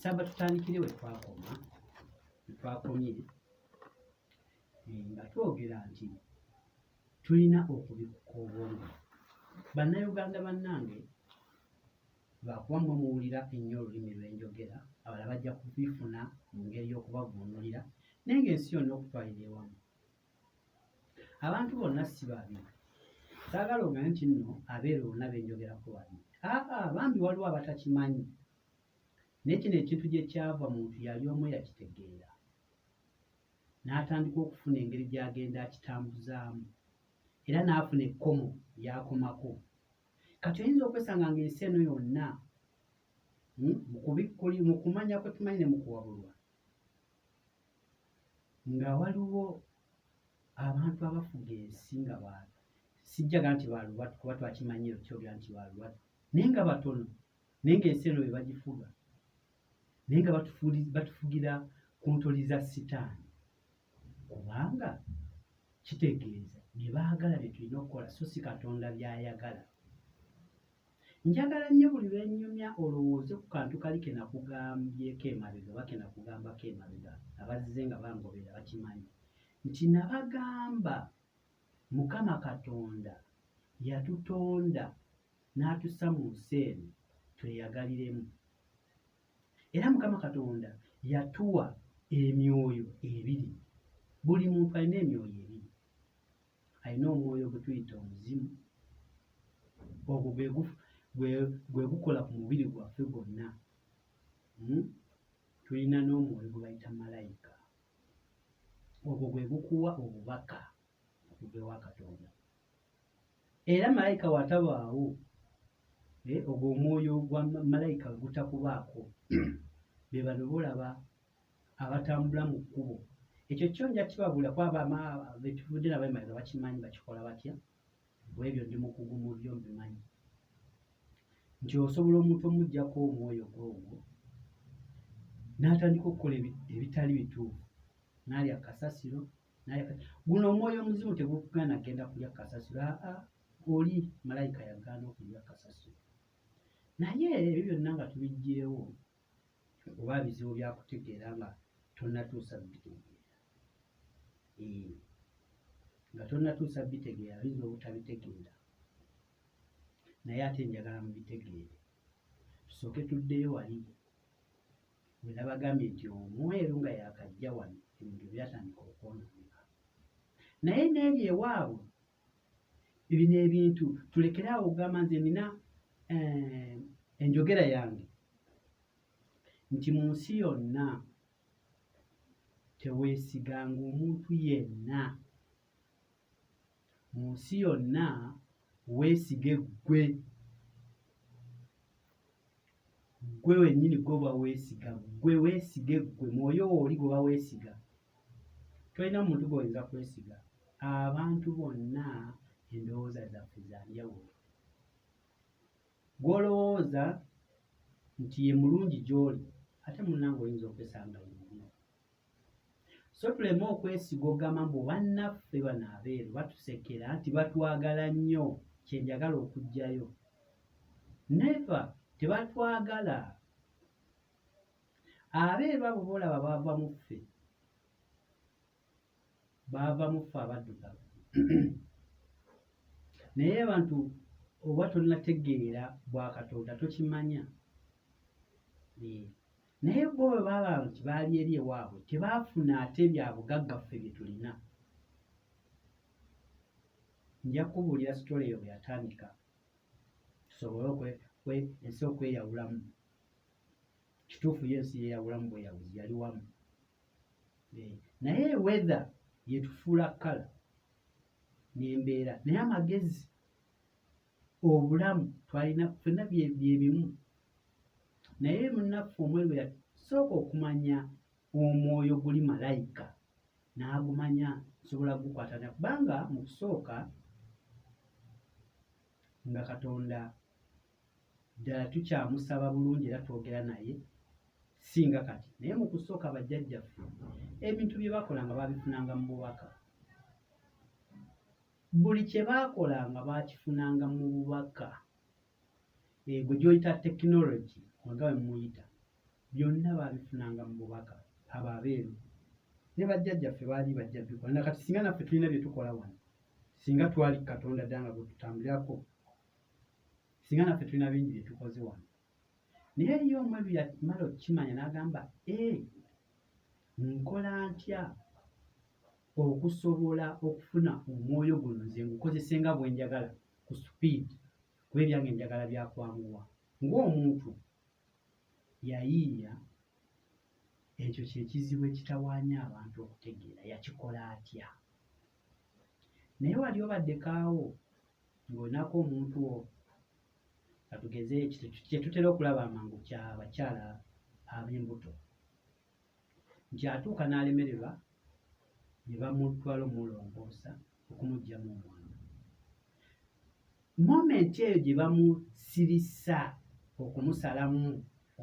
saba tutandikire we twakoma we twakomye eh, nga twogera nti tulina okubikuka obwongo bannayuganda bannange lwakuba mwe muwulira ennyo olulimi lw'enjogera abala bajja kubifuna mu ngeri y'okubavvuunulira naye ng'ensi yonna okutwalira ewamu abantu bonna si babi saagala ogane nti nno abeera bonna benjogerako babi aa bambi waliwo abatakimanyi naye kino ekintu gye kyava muntu yali omu yakitegeera n'atandika okufuna engeri gy'agenda akitambuzaamu era n'afuna ekkomo lyakomako kati oyinza okwesanga ng'ensi eno yonna hmm, mukubikkuli mu kumanya kwe tumanyi ne mukuwabulwa nga waliwo abantu abafuga ensi nga ba sijjaga nti balubatu kuba twakimanyi ekyobya nti balubatu naye nga batono naye ngaensi eno be bagifuga naye nga batufugira ku ntoli za sitaani kubanga kitegeeza bye baagala bye tulina okukola so si katonda by'ayagala Njagala nnyo buli lwe nnyumya olowooze ku kantu kali ke nakugambyeko emabega oba ke nakugambako emabega, abazze nga bangoberera bakimanyi nti nabagamba Mukama Katonda yatutonda n'atussa mu nsi eno tweyagaliremu. Era Mukama Katonda yatuwa emyoyo ebiri. Buli muntu alina emyoyo ebiri. alina omwoyo gwe tuyita omuzimu ogwo gwe gukola ku mubiri gwaffe gwonna hmm? tulina n'omwoyo gwe bayita malayika ogwo gwe gukuwa obubaka okuva ewa katonda era malayika watabaawo eh, ogwo omwoyo gwa malayika gutakubaako bebano bolaba abatambula mu kkubo ekyo kyo nja kibabula kwaba betuvudde nabo emabega bakimanyi bakikola batya bwebyo ndi mukugu mu byo mbimanyi nti osobola omuntu omugjako omwoyo gwe ogwo n'atandika okukola ebitali bituufu naalya kasasiro guno omwoyo omuzimu tegukugaana genda kulya kasasiro aa oli malayika yagaana okulya kasasiro naye ebyo byonna nga tubijjeewo oba bizibu byakutegeera nga tonatuusa bitegeera eh, nga tonatuusa bitegeera oyinza obutabitegeera naye ate njagala mubitegeere tusooke tuddeyo wali wenabagambye nti omweru nga yakajja wano ebintu byatandika okwonooneka naye n'ebyo ewaabwe bibino ebintu tulekere awo okugamba nze nina eh, enjogera yange nti mu nsi yonna teweesiganga omuntu yenna mu nsi yonna weesige ggwe ggwe wennyini gwoba weesiga ggwe weesige ggwe mwoyo wooli gwoba weesiga tolina muntu gwoyinza kwesiga abantu bonna endowooza zaffe zanjawulo gwolowooza nti ye mulungi gyoli ate munange oyinza okwesanga yemubi so tuleme okwesiga ogamba mbu bannaffe bano abeeru batusekera nti batwagala nnyo kyenjagala okugjayo neva tebatwagala abeeru abo boolaba baava mu ffe baava mu ffe abaddugavu naye abantu oba tonategeera bwakatonda tokimanya naye bo bwe baba nti baali eri ewaabwe tebaafuna ate bya bugagga ffe bye tulina nja kubuulira sitole eyo bwe yatandika tusobole ensi okweyawulamu kituufu yo ensi yeyawulamu bweyabuzi yali wamu eh, naye weather yetufuula kala nembeera naye amagezi obulamu twalina fena byebimu naye munaffe omweru yasooka okumanya omwoyo guli malayika n'agumanya nsobola kugukwatana kubanga mu kusooka nga katonda ddala tukyamusaba bulungi era twogera naye singa kati naye mu kusooka bajjajjaffe ebintu bye baakolanga baabifunanga mu bubaka buli kye baakolanga baakifunanga mu bubaka egwe eh, gyoyita tekinologi nga we muyita byonna baabifunanga mu bubaka abo abeeru ne bajjajjaffe baali bajja bikola nakati singa naffe tulina bye tukola wano singa twali katonda ddanga bwe tutambulirako singa naffe tulina bingi bye tukoze wano naye eriyo omu ebyo yamala okukimanya n'agamba e nkola ntya okusobola okufuna omwoyo guno nze ngukozese nga bwe njagala ku supiidi kuba ebyange njagala byakwanguwa ng'omuntu yayiiya ekyo kyekizibu ekitawaanya abantu okutegeera yakikola atya naye wali obadde kaawo ng'olinako omuntu wo katugeze kye tutera okulaba amangu kya bakyala ab'embuto nti atuuka n'alemererwa ne bamutwala omulongoosa okumuggyamu omwana momenti eyo gye bamusirisa okumusalamu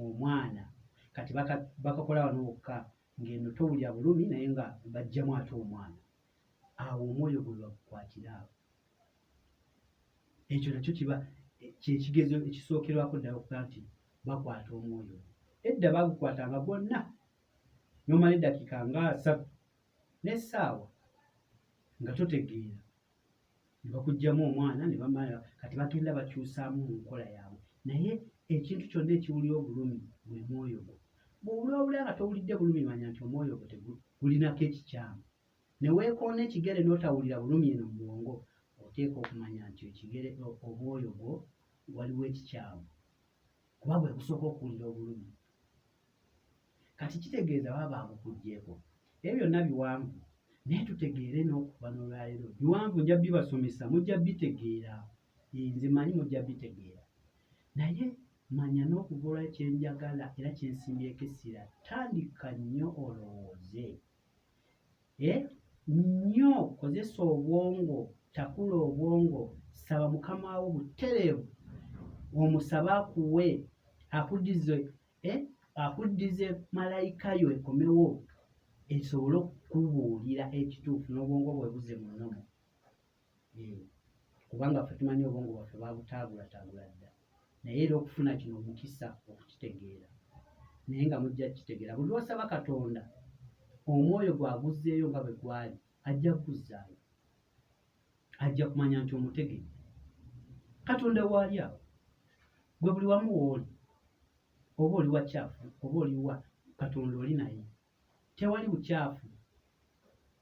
omwana kati bakakola wano wokka ng'eno towulira bulumi naye nga bajjamu ate omwana awo omwoyo gwe bagukwatira awo ekyo nakyo kiba kyekigezo ekisookerwako ddala okuga nti bakwata omwoyo edda bagukwata nga gwonna nomala eddakiika nga asatu n'essaawa nga totegeera ne bakuggyamu omwana ne bamala kati bagenda bakyusaamu mu nkola yaabwe naye ekintu kyonna ekiwulira obulumi gwe mwoyo gwo bwowulawula nga towulidde bulumi manya nti omwoyo gwo tegulinako ekikyamu ne weekoona ekigere n'otawulira bulumi eno mu bwongo oteeka okumanya nti ekigere omwoyo gwo waliwo ekikyamu kuba bwe busooka okuwulira obulumi kati kitegeeza baba babukugyeko ebyo byonna biwanvu naye tutegeere n'okuva n'olwaleero biwanvu nja bibasomesa mujja bitegeera nze manyi mujja bitegeera naye manya n'okuva olwa kyenjagala era kyensimbyeko essira tandika nnyo olowooze eh? nnyo kozesa obwongo takula obwongo saba mukama wo butereevu omusabe akuwe akudize eh? akudize malayika yo ekomewo esobole okukubuulira ekituufu n'obwongo bwe buze munomu Eyo. Kubanga ffe tumanyi obwongo bwaffe babutaagulatabula dda. Naye era okufuna kino omukisa okukitegeera. Naye nga mujja kukitegeera. Buli lwosaba Katonda, omwoyo gwaguzzeeyo nga bwe gwali, ajja kukuzzaayo. Ajja kumanya nti omutegedde. Katonda waali awo. Gwe buli wamu wooli. Oba oli wa kyafu, oba oli wa, Katonda oli naye. Tewali bukyafu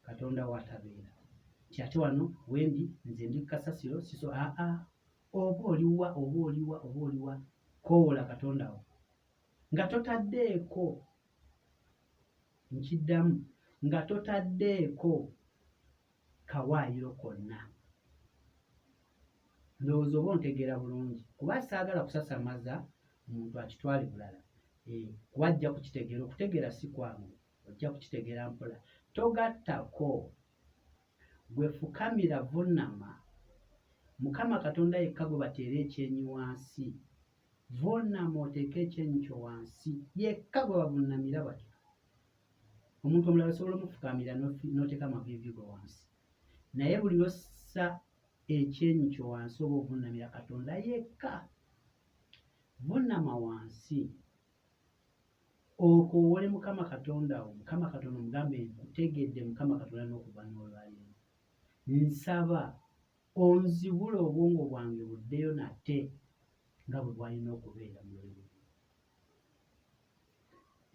Katonda w'atabeera. Nti ate wano wendi nze ndi kasasiro siso aa oba oliwa oba oliwa oba oliwa koowola Katonda wo nga totaddeeko nkiddamu nga totaddeeko kawaayiro konna. Ndowooza oba ontegeera bulungi kuba saagala kusasamaza muntu akitwale bulala eh, kuba ajja kukitegeera. Okutegeera si kwangu, ojja kukitegeera mpola. Togattako, gwe fukamira, vunnama. Mukama Katonda yekka gwe bateera ekyenyi wansi. Vunnama oteeke ekyenyi kyo wansi, yekka gwe bavunnamira batyo. omuntu omulala osobola omufukamira noteka amavivi go wansi naye buli lwossa ekyenyi kyo wansi oba ovunamira katonda yekka vunama wansi okowole mukama katonda wo mukama katonda omugambe nkutegedde mukama katonda nokuva nolwaliro nsaba onzibula obwongo bwange buddeyo nate nga bwe bwalina okubeera mu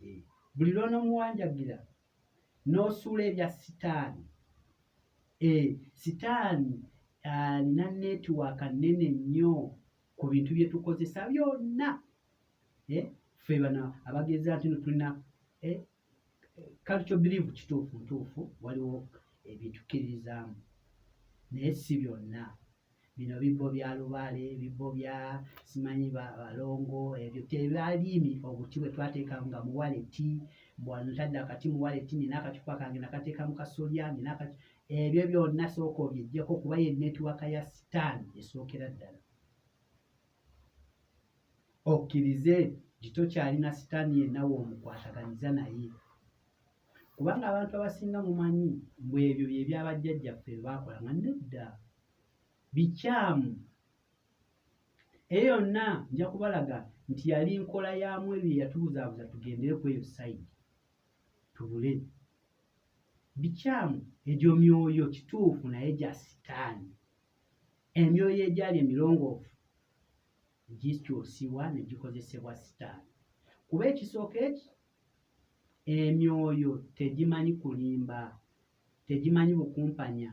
eh, buli lwonomuwanjagira nosuula ebya sitaani eh, sitaani alina netiwaaka nene nnyo ku bintu byetukozesa byonna eh, fe bana abageza nti no tulina culture believe kituufu ntuufu waliwo ebintu kiririzaamu naye si byonna bino bibbo bya lubaale ebibbo bya simanyi balongo ebyo tebaliimi obuti bwe twateeka nga muwaleti bwano tadde akati muwaleti nina akacupa kange nakateeka mu kasolya nina ebyo byonna sooka obyejjeko kuba ye netiwaka ya sitaani esookera ddala okkirize gitokyalina sitaani yenna woomukwataganyiza naye kubanga abantu abasinga mumanyi mbu ebyo bye byabajjajjaffe bye baakola nga nedda bikyamu eyo yonna nja kubalaga nti yali nkola yamu ebyo eyatubuzaabuza tugendere ku eyo sayidi tubule bikyamu egyo myoyo kituufu naye gya sitaani emyoyo egyali emirongoofu gikyusiwa ne gikozesebwa sitaani kuba ekisooka eki Emyoyo tegimanyi kulimba, tegimanyi bukumpanya.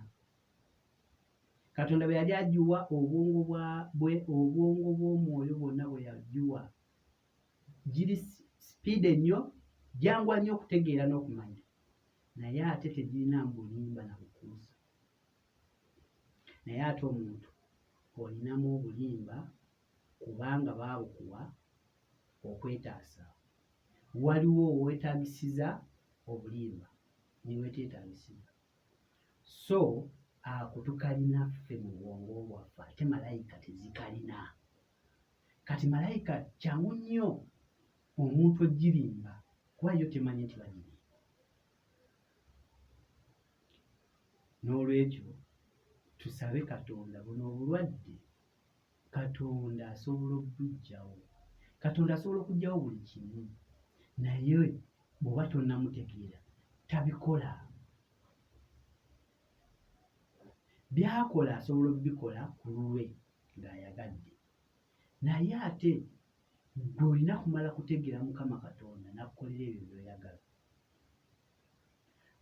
Katonda bwe yali agiwa obwongo bwa bwe obwongo bw'omwoyo bwonna bwe yagiwa giri sipiide nnyo, gyanguwa nnyo okutegeera n'okumanya, naye ate tegirina bulimba na bukuusa. Naye ate omuntu olinamu obulimba kubanga baabukuwa okwetaasa. waliwo wetagisiza obulimba niwetetagisiza so ako tukalina ffe mu bwongo bwaffe ate malayika tezikalina kati malayika kyangu nnyo omuntu ogirimba kuba yo temanyi nti bagirimba n'olwekyo tusabe katonda buno obulwadde Katonda asobola okubuggyawo. Katonda asobola okuggyawo buli kimu, naye bw'oba tonnamutegeera tabikola. By'akola asobola okubikola ku lulwe ng'ayagadde, naye ate ggwe olina kumala kutegeera Mukama Katonda n'akukolera ebyo by'oyagala.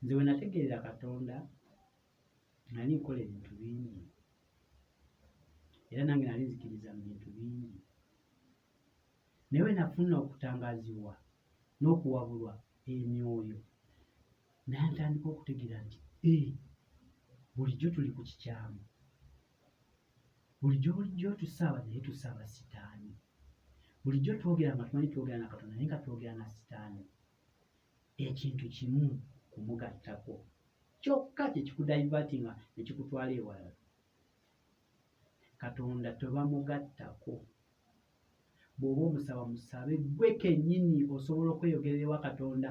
Nze we nategeerera Katonda nali nkola ebintu bingi era nange nali nzikiriza mu bintu bingi naye bwe nafuna okutangazibwa n'okuwabulwa emyoyo nantandika okutegeera nti ee eh, bulijjo tuli ku kikyamu bulijjo bulijjo tusaaba naye tusaaba sitaani bulijjo twogera nga tumanyi twogera na katonda naye nga twogera na sitaani ekintu kimu kumugattako kyokka kye kikudaivatinga ne kikutwala ewalala katonda tebamugattako bw'oba omusaba musabe gwe kennyini osobola okweyogerera ewa katonda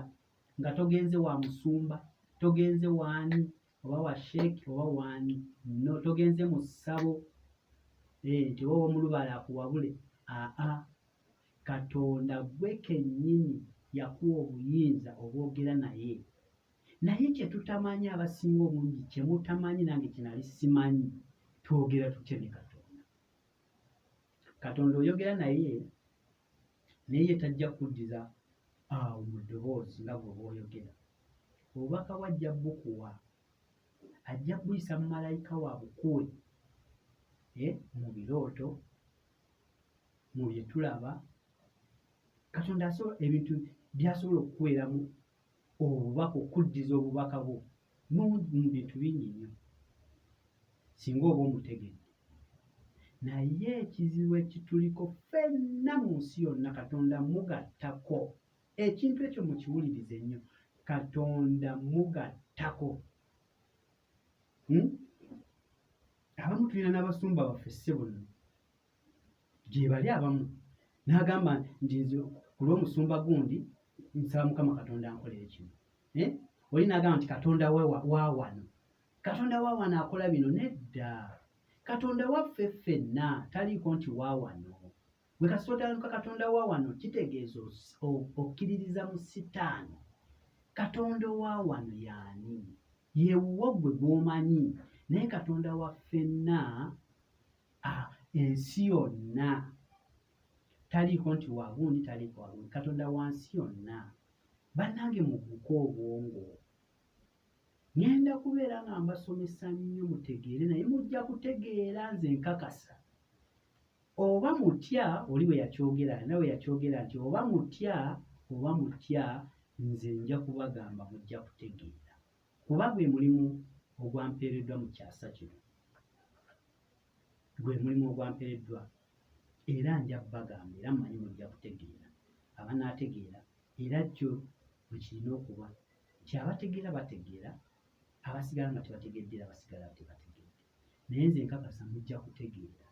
nga togenze wa musumba togenze waani oba wa sheeki oba waani no togenze mu ssabo eh, nti oba omulubala akuwabule aa Katonda gwe kennyini yakuwa obuyinza obwogera naye. Naye kye tutamanyi abasinga obungi kye mutamanyi nange kye nali simanyi twogera tutya ne Katonda. Katonda oyogera naye naye ye tajja kuddiza awo mu ddoboozi nga gwe bw'oyogera. Obubaka bwe ajja bukuwa, ajja buyisa mu malayika wa bukuwe eh, mu birooto, mu bye tulaba katonda asobola ebintu byasobola okukuweeramu obubaka okuddiza obubaka bwo mu bintu bingi nnyo singa oba omutegedde naye ekizibu ekituliko fenna mu nsi yonna katonda mugattako ekintu ekyo mukiwulirize nnyo katonda mugattako hmm? abamu tulina n'abasumba baffe ssebo nno gyebali abamu n'agamba nti nze ku lw'omusumba gundi nsaba mukama katonda ankolere kino eh? oli n'agamba nti katonda wawano katonda wawano akola bino nedda katonda waffe ffenna taliiko nti wawano bwe kasootanuka katonda wawano kitegeeza okkiririza mu sitaano katonda owawano yaani yewuwo gwe gwomanyi naye katonda waffenna Ah, ensi yonna taliiko nti wagundi taliiko wagundi katonda wansi yonna bannange mubuka obwongo ŋenda kubeera nga mbasomesa nnyo mutegeere naye mujja kutegeera nze nkakasa oba mutya oli bwe yakyogera na bwe yakyogera nti oba mutya oba mutya nze nja kubagamba mujja kutegeera Kuba gwe mulimu ogwampeereddwa mu kyasa kino. Gwe mulimu ogwampereddwa, era nja kubagamba, era mmanyi mujja kutegeera, abanaategeera, era kyo bwe kirina okuba, nti abategeera bategeera, abasigala nga tebategedde era basigala tebategedde. Naye nze nkakasa mujja kutegeera.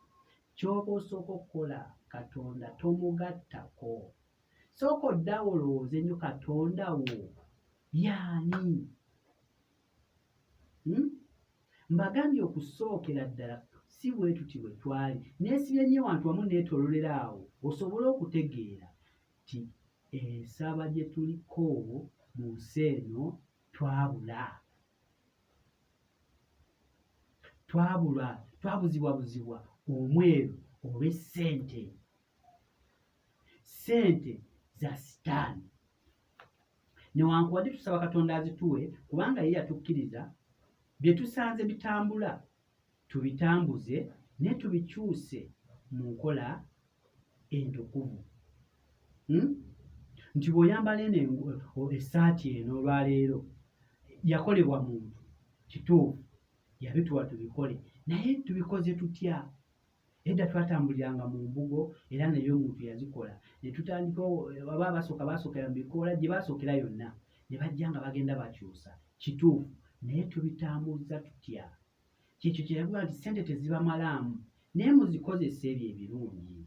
Ky'oba osooka okukola, Katonda tomugattako. Sooka oddawo olowooze nyo Katonda wo yaani? Hmm? Mbagambye okusookera ddala si bwetuti bwe twali neesibye nnyo wantu wamu neetololera awo osobole okutegeera nti ensaba gye tuliko mu nsi eno twabula twabula twabuzibwabuzibwa omweru olw'essente ssente za sitaani newankubadde tusaba katonda azituwe kubanga ye yatukkiriza bye tusanze bitambula tubitambuze ne tubikyuse mu nkola entukuvu hmm? nti bw'oyambala eno essaati eno olwaleero yakolebwa muntu kituufu yabituwa tubikole naye tubikoze tutya Edda twatambuliranga mu mbugo era naye omuntu yazikola ne tutandika baba abasooka basookera mu bikoola gye basookera yonna ne bajja nga bagenda bakyusa kituufu naye tubitambuzza tutya kyekyo kye yavuga nti ssente tezibamalaamu naye muzikozesa ebyo ebirungi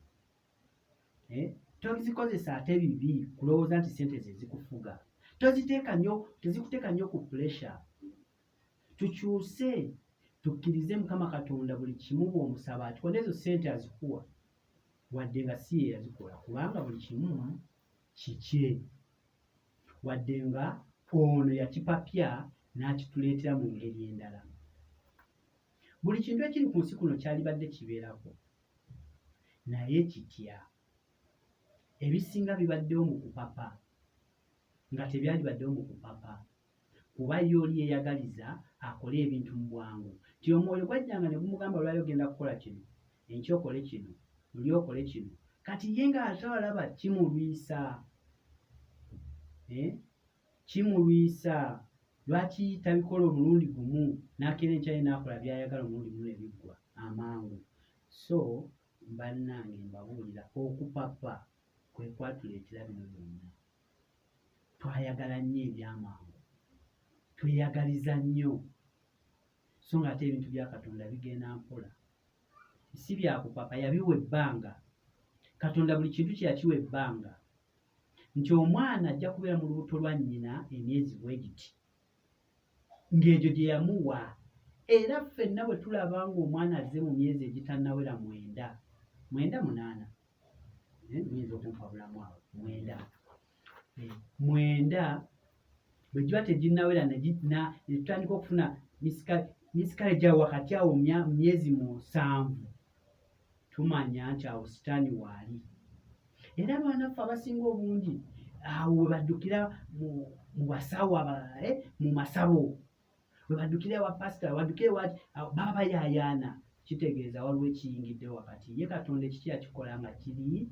eh? tozikozesa ate bibi kulowooza nti ssente ze zikufuga toziteeka nnyo tezikuteeka nnyo ku pulesha tukyuse tukkirize mukama katonda buli kimu bwomusaba akikola nezo sente azikuwa wadde nga si ye yazikola kubanga buli kimu kikye wadde nga ono yakipapya n'akituleetera mu ngeri endala buli kintu ekiri ku nsi kuno kyalibadde kibeerako naye kitya ebisinga bibaddewo mu kupapa nga tebyalibaddewo mu kupapa kuba ye oli yeeyagaliza akole ebintu mu bwangu. Nti omwoyo gwajjanga ne gumugamba lwali ogenda kukola kino, enkya okole kino, luli okole kino. Kati ye ng'ate alaba kimulwisa, eh, kimulwisa lwaki tabikola omulundi gumu n'akeera enkya ye n'akola by'ayagala omulundi gumu ne biggwa amangu. So bannange mbabuulira okupapa kwe kwatuleetera bino byonna. twayagala nnyo ebyamangu tweyagaliza nnyo so nga ate ebintu bya katonda bigenda mpola si byakupapa yabiwa ebbanga katonda buli kintu kyeyakiwa ebbanga nti omwana ajja kubeera mu lubuto lwa nnyina emyezi bwe giti ng'egyo gye yamuwa era ffenna bwe tulaba ng'omwana azze mu myezi egitannawera mwenda mwenda munaana eh, nyinza okumpabulamu awo mwenda eh, mwenda bwe giba teginnawera netutandika okufuna misikale gya wakati awo myezi musanvu tumanya nti awo sitaani waali era abaanaffe abasinga obungi awo we baddukira mu basawo abalala eh, mu masabo we baddukira ewa pasita webaddukira ewaki baba bayaayaana kitegeeza waliwo ekiyingidde wakati ye katonda ekiki akikola nga kiri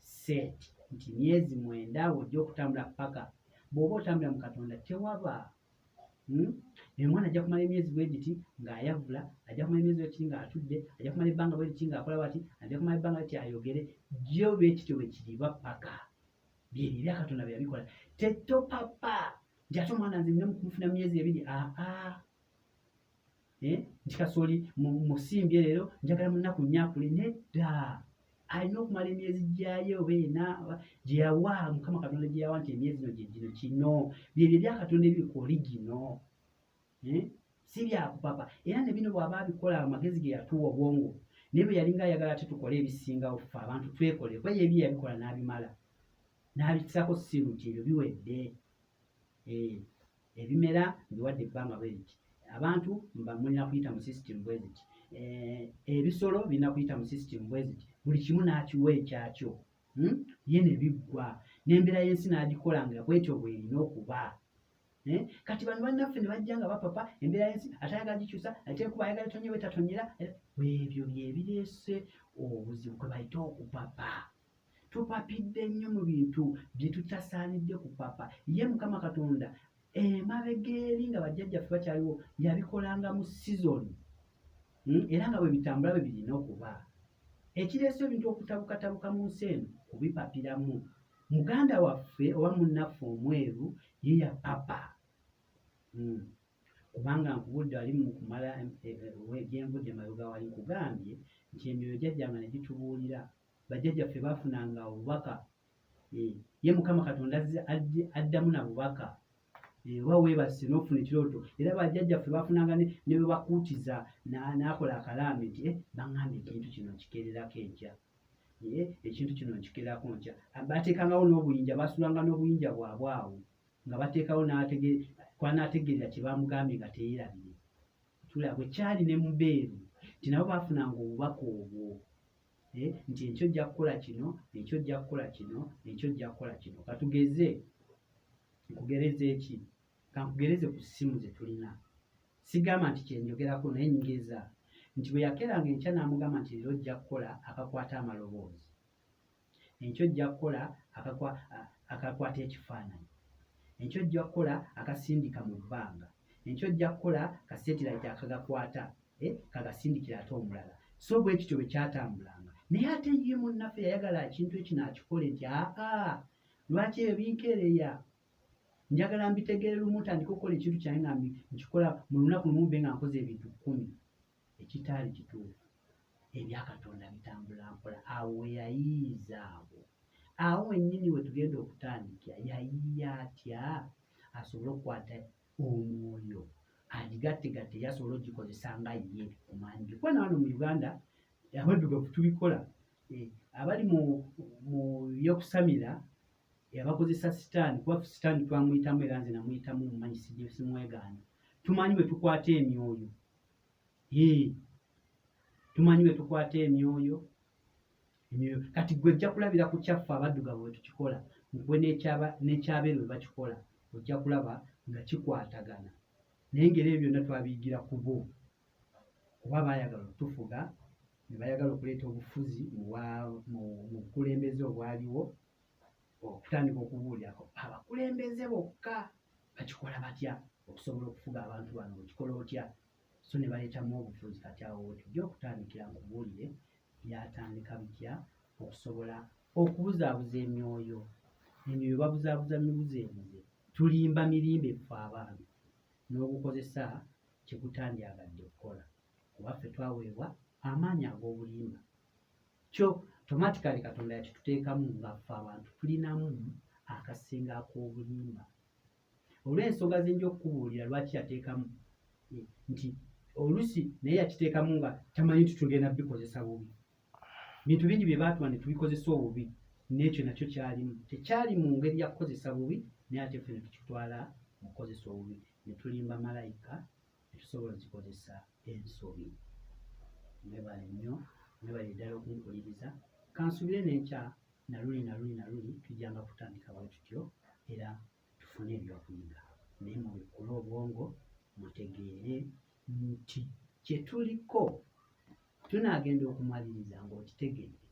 set nti myezi mwenda ojja okutambula paka bw'oba otambula mu katonda tewaba hmm? emwana ajja kumala emyezi bwe giti ng'ayavula ajja kumala emyezi bwe kiti ng'atudde ajja kumala ebbanga bwe liti ng'akola bati ajja kumala ebbanga liti ayogere jjo bwe kityo bwe kiriba paka byebyo ebya katonda bye yabikola tetopapa nti ate omwana nze nina mukumufuna myezi ebiri aa eh, nti kasooli musimbye leero njagala munaku nyakule nedda alina okumala emyezi gyayo oba ena gyeyawa mukama katonda gyeyawa nti emyezi no gyegino kino byebyo ebyakatonda ebiri ku oligino eh, si byakupapa era ne bino bwaba abikola amagezi ge yatuwa obwongo naye bwe yalinga ayagala ate tukole ebisingawo fe abantu twekole kuba yebyo yabikola n'abimala n'abikisako siru nti ebyo biwedde eh. ebimera mbiwadde ebbanga bwe liti abantu mba mulina kuyita mu system bwe ziti eh, ebisolo birina kuyita mu system bwe ziti buli kimu n'akiwa ekyakyo hmm? ye ne biggwa n'embeera y'ensi n'agikola nga bwetyo bwerina okuba eh? kati bano bannaffe ne bajja nga bapapa embeera y'ensi atayagala gikyusa atekuba ayagala etonye bwe tatonyera eh, ebyo bye bireese obuzibu kwe bayita okupapa tupapidde nnyo mu bintu bye tutasaanidde kupapa ye mukama katonda emabega eri nga bajjajjaffe bakyaliwo yabikolanga mu sizoni hmm? era nga bwe bitambula bwe birina okuba ekireese ebintu okutabukatabuka mu nsi eno kubipapiramu muganda waffe oba munnaffe omweru ye yapapa hmm. kubanga nkubudde ali mu kumala eh, eh, gyenvudde emabega wali nkugambye nti emyoyo gyajjanga ne gitubuulira bajjajjaffe baafunanga obubaka eh, ye mukama katonda addamu na bubaka eh, oba weebase n'ofuna ekirooto era bajjajjaffe baafunanga ne bwe bakuutiza n'akola akalaame nti eh, baŋŋambye ekintu kino nkikererako enkya ekintu kino nkikererako nkya bateekangawo n'obuyinja baasulanga n'obuyinja bwabwe awo nga bateekawo kwanaategeerera kye baamugambye nga teyeerabire tulabwe kyali ne mubeeru nti nabo baafunanga obubaka obwo eh, nti ekyo ojja kukola kino ekyo ojja kukola kino ekyo ojja kukola kino katugeze nkugereze eki kankugereze ku ssimu ze tulina sigamba nti kyenjogerako naye nyigeza nti bwe yakeranga enkya n'amugamba nti leero ojja kukola akakwata amaloboozi enkyo ojja kukola akakwata ekifaananyi enkyo ojja kukola akasindika mu bbanga enkyo ojja kukola kasetirayiti akagakwata eh, kagasindikira ate omulala so bwe kityo bwe kyatambulanga naye ate ye munnaffe yayagala ekintu ekino akikole nti aa lwaki ebyo binkeereya njagala mbitegeere lumu tandika okukola ekintu kyange nga nkikola mu lunaku lumu be nga nkoze ebintu kkumi ekitaali kituufu ebyakatonda bitambula mpola awo weyayiiza awo awo wennyini we tugenda okutandikira yayiiya atya asobole okukwata omwoyo agigattegatte era asobole ogikozesa nga ye omwami bikuba na wano mu uganda abaddugavu tubikola eh, abali mu byokusamira abakozesa sitaani kuba sitaani twamuyitamu era nze namuyitamu mumanyi sisimwegaana tumanyi bwe tukwata emyoyo tumanyi bwe tukwata emyoyo emyoyo kati gwe ojja kulabira ku kyaffe abaddugavu bwe tukikola gwe n'ekyabeeru bwe bakikola ojja kulaba nga kikwatagana naye ngeri ebyo byonna twabiyigira ku bo kuba baayagala okutufuga ne bayagala okuleeta obufuzi mu bukulembeze obwaliwo okutandika okubuulirako abakulembeze bokka bakikola batya okusobola okufuga abantu bano okikola otya so ne baleetamu obufuzi kati awo wetujja okutandikira nkubuulire byatandika bitya okusobola okubuzaabuza emyoyo emyoyo babuzaabuza mibuzo ebuze tulimba mirimba efa abaami n'ogukozesa kyekutandyagadde okukola kuba ffe twaweebwa amaanyi ag'obulimba kyo tomatikali katonda yakituteekamu ngaffe abantu tulinamu akasinga ak'obulimba olw'ensonga zinja okukubuulira lwaki yateekamu eh, nti olusi naye yakiteekamu nga tamanyi nti tugenda bikozesa bubi bintu bingi bye baatuma ne tubikozesa obubi n'ekyo nakyo kyalimu tekyali mu ngeri ya kukozesa bubi naye ate ffe ne tukitwala mu kukozesa obubi ne tulimba malayika ne tusobola ozikozesa ensobi mwebale nnyo mwebale ddala okunkuliriza kansubire nenkya naluli naluli naluli tujjanga kutandika bwe tutyo era tufune ebyokuyiga naye mubikkule obwongo mutegeere nti kyetuliko tunaagenda okumaliriza ng'okitegedde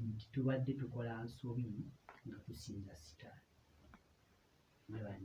nti tubadde tukola nsobi nga tusinza sitaani mwebale